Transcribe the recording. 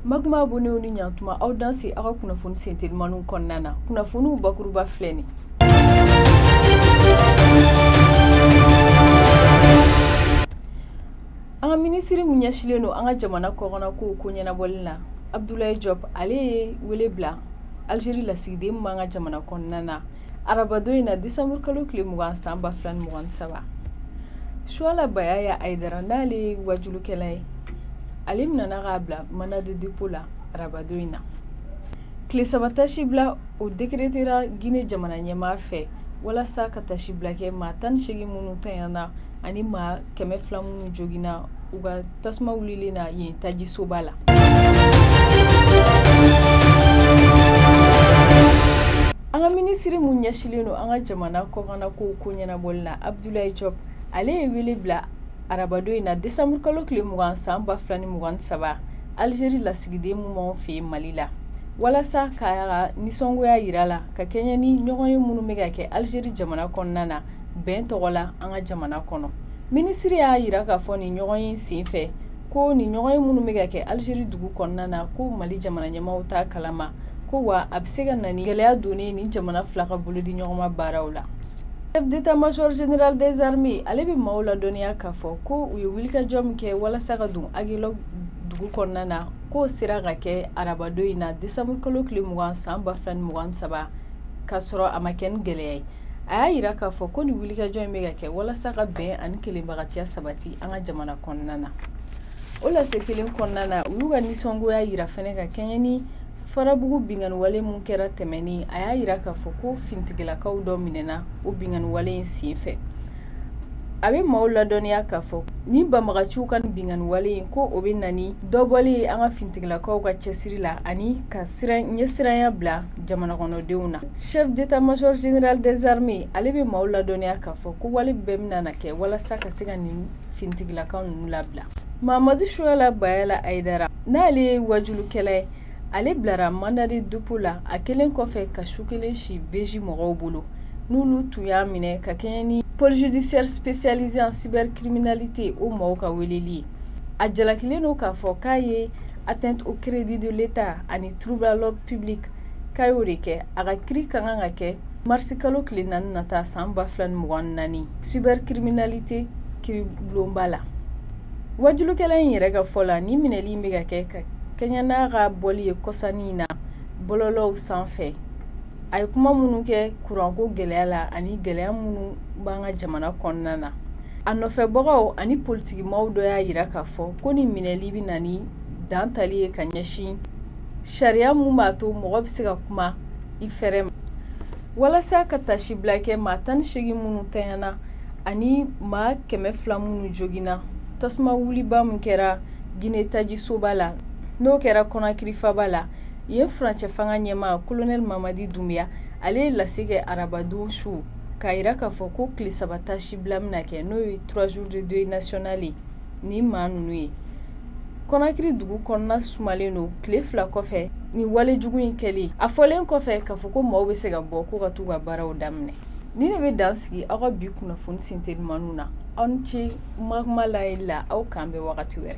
Makuma bonw ni ɲtuma aw danse aw ka kunnafoni sentelimanw kɔnɔna na kunnafoniw bakuruba filɛ nin an ka minisiri min ɲɛsinlen don an ka jamana kɔkanna kow ko ɲɛnabɔli na abdulayi jɔp ale ye wele bila alizeri lasigiden ma an ka jamana kɔnɔna na arabadon in na desanburu kalo tile mugan san ba fila ni mugan ni saba suwala bayaya ayidara n'ale ye wajulukɛla ye ale minɛna k'a bila mandat de dépôt la arabadon in na tile saba tasi bila o dekeretera gine jamana ɲɛmaa fɛ walasa ka tasi bila kɛ maa tan ni seegin minnu tanyana ani maa kɛmɛ fila minnu joginna u ka tasuma wulilen na yen tajisoba la an ka minisiri mun ɲɛsilen don an ka jamana kɔkanna kow ko ɲɛnabɔli la abdulayi jɔp ale ye wele bila arabadon in na desanburu kalo tile mugan san ba fila ni mugan ni saba alizeri lasigiden mun b'anw fɛ yan mali la walasa k'a ka nisɔngoya yira la ka kɛɲɛ ni ɲɔgɔnye minnu bɛ ka kɛ alizeri jamana kɔnɔna na bɛn tɔgɔ la an ka jamana kɔnɔ minisiri y'a yira k'a fɔ nin ɲɔgɔnye sen fɛ ko nin ɲɔgɔnye minnu bɛ ka kɛ alizeri dugu kɔnɔna na ko mali jamana ɲɛmaaw t'a kalama ko wa a bɛ se ka na ni gɛlɛya donni ye nin jamana fila ka bolodiɲɔgɔnma baaraw la chef d'état major général des armées ale bɛ maaw ladɔnniya k'a fɔ ko u ye wulikajɔ min kɛ walasa ka don Aguelhok dugu kɔnɔna na k'o sera ka kɛ arabadon in na décembre kalo tile mugan san ba fila ni mugan ni saba k'a sɔrɔ a ma kɛ ni gɛlɛya ye a y'a yira k'a fɔ ko nin wulikajɔ in bɛ ka kɛ walasa ka bɛn ani kelenbagatiya sabati an ka jamana kɔnɔna na o lase kelen kɔnɔna na u y'u ka nisɔngoya yira fɛnɛ ka kɛɲɛ ni farabugu binkanniwale min kɛra tɛmɛni a y'a yira k'a fɔ ko finitigilakaw dɔ minɛna o binkanniwale in sen fɛ a bɛ maaw ladɔnniya k'a fɔ ni banbaganciw ka nin binkanniwale in ko o bɛ na ni dɔbɔli ye an ka finitigilakaw ka cɛsiri la ani ka ɲɛsiranya bila jamana kɔnɔdenw na chef d'état major général des armées ale bɛ maaw ladɔnniya k'a fɔ ko wale bɛɛ bɛna na kɛ walasa ka se ka nin finitigilakaw ninnu labila mamadu suwala bayaya ayidara n'ale ye wajulukɛla ye ale bilara mandat de dépôt la a kɛlen kɔfɛ ka su kelen si BIJ mɔgɔw bolo n'olu tun y'a minɛ ka kɛɲɛ ni pôle judiciaire spécialisé en cybercriminalité o maaw ka weleli ye a jalakilen don k'a fɔ k'a ye atteinte au crédit de l'État ani trouble à l'ordre public k'a y'o de kɛ a ka kiiri ka kan ka kɛ marisi kalo tile naani nata san ba fila ni mugan ni naani cybercriminalité kiiribulonba la wajulukɛla in yɛrɛ ka fɔ la nin minɛli in bɛ ka kɛ ka kɛɲɛ n'a ka bɔli ye kɔsa in na bɔlɔlɔw sanfɛ a ye kuma minnu kɛ kuranko gɛlɛya la ani gɛlɛya minnu b'an ka jamana kɔnɔna na a nɔfɛbagaw ani politikimaaw dɔ y'a yira k'a fɔ ko nin minɛli bɛ na ni dan tali ye ka ɲɛsin sariya mun b'a to mɔgɔ bɛ se ka kuma i fɛrɛ ma walasa ka taasibila kɛ maa tan ni seegin minnu tanyana ani maa kɛmɛ fila minnu joginna tasuma wuliba min kɛra gine tajisoba la n'o kɛra kɔnakiri faaba la yen furancɛ fanga ɲɛmaa kolonɛli mamadi dunbuya ale ye lase kɛ arabadon su k'a yira k'a fɔ ko tile saba taasibila bɛna kɛ n'o ye trois jours de deuil national ye nin maa ninnu ye kɔnakiri dugu kɔnɔna sumalen don tile fila kɔfɛ nin wale jugu in kɛli a fɔlen kɔfɛ k'a fɔ ko maaw bɛ se ka bɔ ko ka t'u ka baaraw daminɛ nin ne bɛ dan sigi aw ka bi kunnafoni sentelimanu na aw ni ce kuma layeli la aw k'an bɛn wagati wɛrɛ